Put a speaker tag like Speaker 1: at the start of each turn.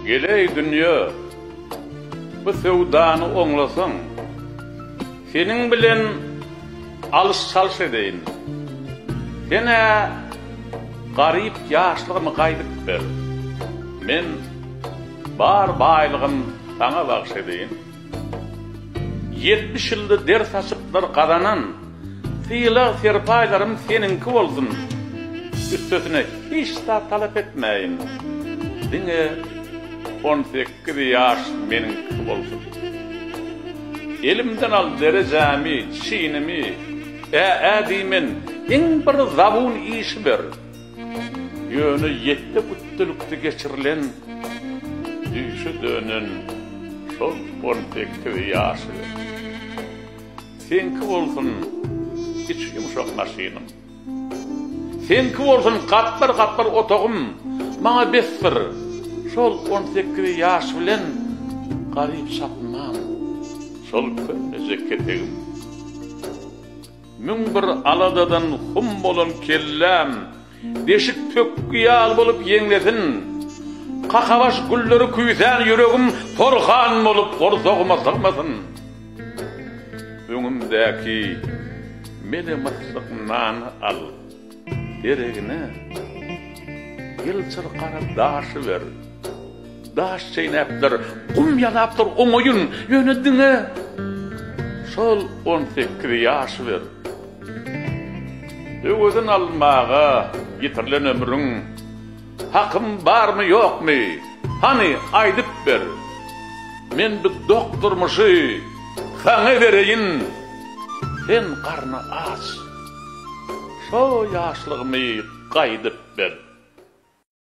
Speaker 1: Geleý dünýe, bu söwdany oňlasaň, seniň bilen alyş-çalyş edeýin. Sen-ä garyp ýaşlygymy gaýdyp ber, men bar baýlygym saňa bagyş edeýin. Ýetmiş ýylda der saçyplar gazanan sylag-serpaýlarym seniňki bolsun, üstesine hiç zat talap etmäýin, diňe on sekiz ýaş meniňki bolsun. Elimden al derejämi, çinimi, ä-ä diýmen, iň bir zabun işi ber. Ýöne ýetde güpdülikde geçirilen düýşe dönen şol on sekiz ýaşy seňki bolsun içi ýumşak maşynyň, seňki bolsun gapdal-gapdal otagym maňa besdir, şol on sekiz ýaş bilen garyp çapynman şol köneje ketegim. Müň bir aladadan hum bolan kelläm Deşik pökgi ýaly bolup ýeňlesin. Kakabaş gülleri küýsän ýüregim Porhan bolup gorsagyma sygmasyn. Öňümdäki mele-myssyk nany al. deregine ýylçyr gara daşy ber. Daş çeýnäpdir, gum ýalapdyr oňaýyn, ýöne diňe şol on sekiz ýaşy ber. Öwezini almaga ýitirilen ömrüň hakym barmy, ýokmy, hany, aýdyp ber. Men bu dok durmuşy saňa bereýin, sen garny aç. Şo ýaşlygymy gaýdyp ber.